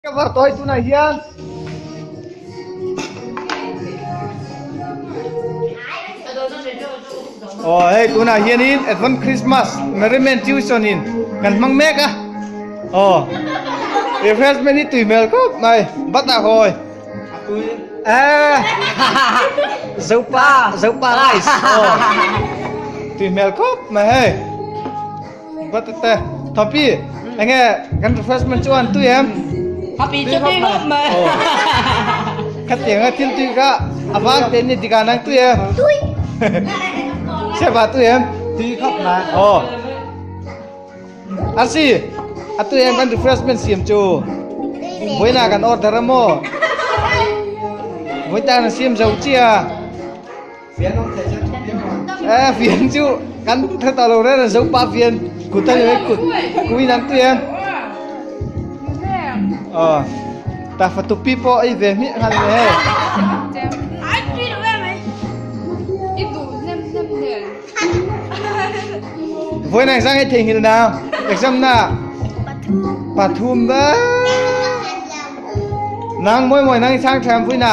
Ka var tawi tunah hian Oh, hey, tuna hian in Advent Christmas Merriment Tuition in kan mang mek a. Oh. Refreshment ni tuimel khop mai. Bata hoi. Eh. Zopa, zopa rice. Oh. Tuimel khop mai hey. Batute, Thapi, enge kan refreshment chu an tui em? Thapi chu tui ngawt mai. Khati anga thil tui kha avang te ni dikah nang tui em? Tui. Seba tui em? Tui khawp mai. Aw. Arsi, a tui em kan refreshment siam chu? Buaina kan order em aw? Buaitana siam zo chi a? eh fian chu kan kha ta lo reng reng zo pa fian kut a ni mai kut ku inang tui em ah ta fa tupi pawh ei ve hmih khan ni hei voi nang zang ei theihngilh na exam na pathum nang mawi mawi nang i chang tha em vui na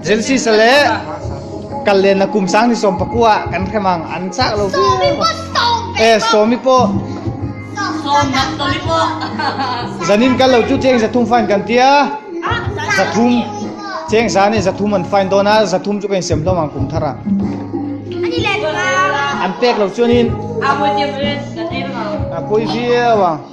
Genesis-a leh kal lenna kum sang ni sawm pakua kan hrem ang an chak lo viau e sawmi pawh sawm dah sawmi pawh zanin kal lo chu cheng zathum fine kan tia zathum cheng za ni zathum an fine dona zathum chu kan sem hlawm ang kum thara ani le an pek lo chuanin a pui viau ang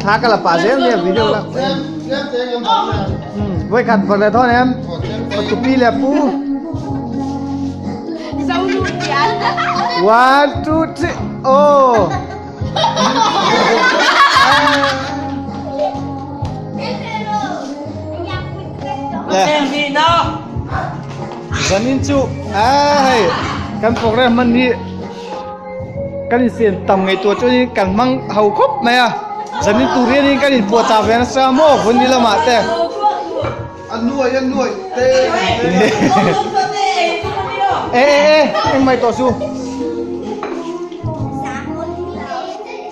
Thla ka la pah zel nia video la. Voi khat bak le thon em. Patu pi le pu. Zau lu tia. One two three. Oh. Le. Zanin chu ai kan program man ni. Kan infiam tam ngei tur chu in kan hmang ho khawp mai a, zanin tur hianin kan inpuah ta ve nasa maw hun ni lamah te. A nuai a nuai te e e e engmai tawh chu.